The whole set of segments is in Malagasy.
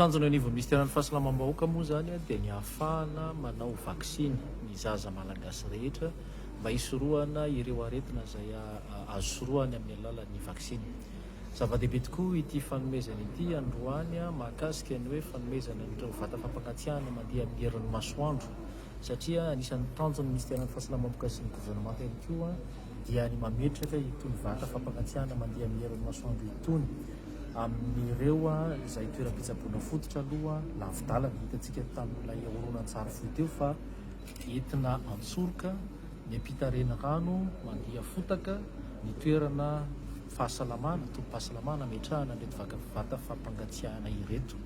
tanjona eo anivon'ny minisiteran'ny fahasalamam-bahoaka moa zany dia ny hahafahana manao vaksiny ny zaza malagasy rehetra mba hisorohana ireo aretina izay azo sorohana amin'ny alalan'ny vaksiny Zava-dehibe tokoa ity fanomezana ity androany mahakasika ny hoe fanomezana an'ireo vata fampangatsiahana mandeha amin'ny herin'ny masoandro satria anisan'ny tanjon'ny Minisiteran'ny Fahasalamam-boka sy ny Governemanta ihany koa dia ny mametraka itony vata fampangatsiahana mandeha amin'ny herin'ny masoandro itony amin'ireo izay toeram-pitsaboana fototra aloha lavidalana. Hitantsika tamin'ilay horonantsary fohy teo fa. Entina an-tsoroka ny ampitarena rano mandia fotaka ny toerana fahasalamana, tobim-pahasalamana ametrahana an'ireto vaka vata fampangatsiahana ireto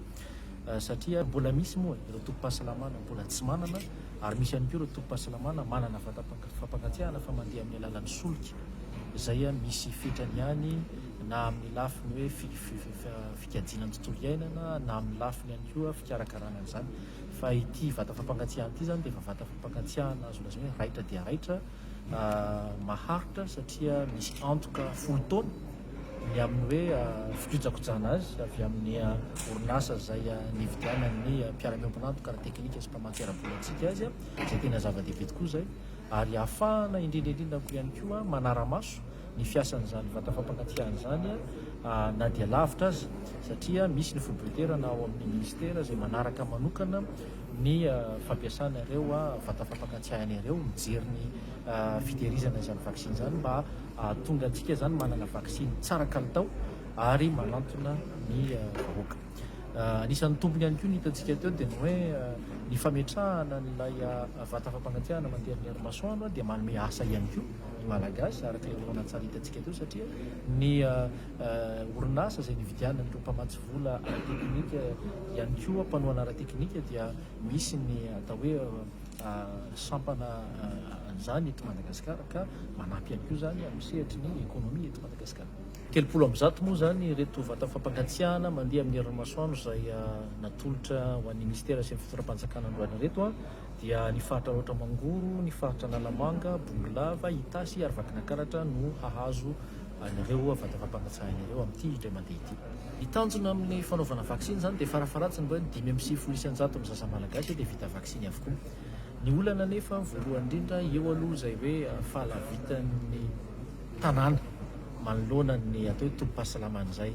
satria mbola misy moa ireo tobim-pahasalamana mbola tsy manana ary misy ihany koa ireo tobim-pahasalamana manana vata fampangatsiahana fa mandeha amin'ny alalan'ny solika izay misy fetrany ihany na amin'ny lafiny hoe fikajiana ny tontolo iainana na amin'ny lafiny ihany koa fikarakarana an'izany. Fa ity vata fampangatsiahana ity izany dia efa vata fampangatsiahana azo lazaina hoe raitra dia raitra, maharitra satria misy antoka folo taona ny amin'ny hoe fikojakojana azy avy amin'ny orinasa izay nividianan'ny mpiara-miombon'antoka ara-teknika sy mpamatsy ara-bolantsika azy, izay tena zava-dehibe tokoa izay, ary ahafahana indrindra indrindra koa ihany koa manara-maso ny fiasan'izany vata fampangatsiahana izany na dia lavitra aza satria misy ny foibe-toerana ao amin'ny minisitera izay manaraka manokana ny fampiasana ireo vata fampangatsiahana ireo, mijery ny fitehirizana izany vaksiny izany mba hahatonga antsika izany manana vaksiny tsara kalitao ary manantona ny vahoaka. Anisan'ny tombony ihany koa ny hitantsika teo dia ny hoe ny fametrahana an'ilay vata fampangatsiahana mandeha amin'ny herinmasoandro dia manome asa ihany koa ny Malagasy araka ilay horonantsary hitantsika teo satria ny orinasa izay nividianana an'ireo mpamatsy vola ara-teknika ihany koa mpanohana ara-teknika dia misy ny atao hoe sampana an'izany eto Madagasikara ka manampy ihany koa izany amin'ny sehatry ny ekonomia eto Madagasikara. Telopolo amby zato moa izany ireto vata fampangatsiahana mandeha amin'ny herin'ny masoandro izay natolotra ho an'ny Minisitera sy ny Fitondram-panjakana androany ireto dia ny faritra Alaotra Mangoro, ny faritra Analamanga, Bongolava, Itasy ary Vakinankaratra no hahazo an'ireo vata fampangatsiahana ireo amin'ity indray mandeha ity. Ny tanjona amin'ny fanaovana vaksiny izany dia farafaharatsiny mba hoe dimy amby sivifolo isan-jaton'ny zaza malagasy dia vita vaksiny avokoa. Ny olana anefa voalohany indrindra eo aloha izay hoe fahalavitan'ny. tanàna manoloana ny atao hoe tobim-pahasalamana izay.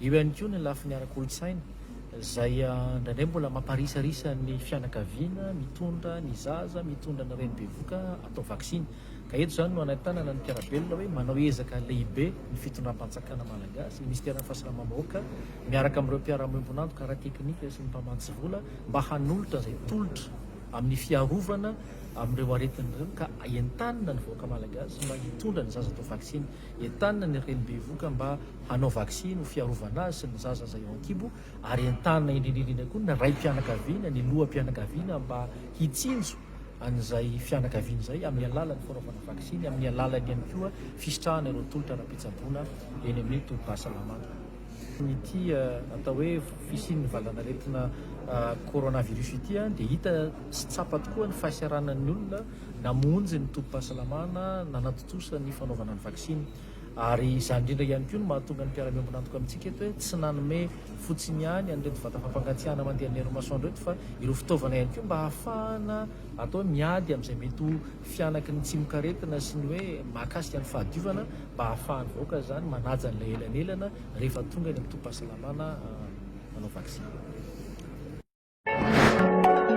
Eo ihany koa ny lafiny ara-kolontsaina izay indraindray mbola mamparisarisa ny fianakaviana mitondra ny zaza, mitondra ny reny bevoka atao vaksiny. Ka eto izany no anentanana ny mpiara-belona hoe manao ezaka lehibe ny fitondram-panjakana malagasy, ny minisiteran'ny fahasalamam-bahoaka miaraka amin'ireo mpiara-miombon'antoka ara-teknika sy ny mpamatsy vola mba hanolotra izay tolotra amin'ny fiarovana amin'ireo aretina ireo ka entanina ny vahoaka Malagasy mba hitondra ny zaza atao vaksiny, entanina ny reny bevoka mba hanao vaksiny ho fiarovana azy sy ny zaza izay eo ankibo ary entanina indrindraindrindra koa ny raim-pianakaviana, ny loham-pianakaviana mba hitsinjo an'izay fianakaviana izay amin'ny alalan'ny fanaovana vaksiny, amin'ny alalan'ny ihany koa fisitrahana ireo tolotra ara-pitsaboana eny amin'ny tobim-pahasalamana. Ity atao hoe fisian'ny valanaretina coronavirus ity dia hita sy tsapa tokoa ny fahisaranan'ny olona namonjy ny tobim-pahasalamana nanatontosa ny fanaovana ny vaksiny. Ary izany indrindra ihany koa no mahatonga ny mpiara-miombon'antoka amintsika eto hoe tsy nanome fotsiny ihany an'ireto vata fampangatsiahana mandeha amin'ny herin'ny masoandro ireto fa ireo fitaovana ihany koa mba hahafahana atao hoe miady amin'izay mety ho fihanaky ny tsimokaretina sy ny hoe mahakasika ny fahadiovana mba hahafahan'ny vahoaka izany manaja an'ilay elanelana rehefa tonga eny amin'ny tobim-pahasalamana manao vaksiny.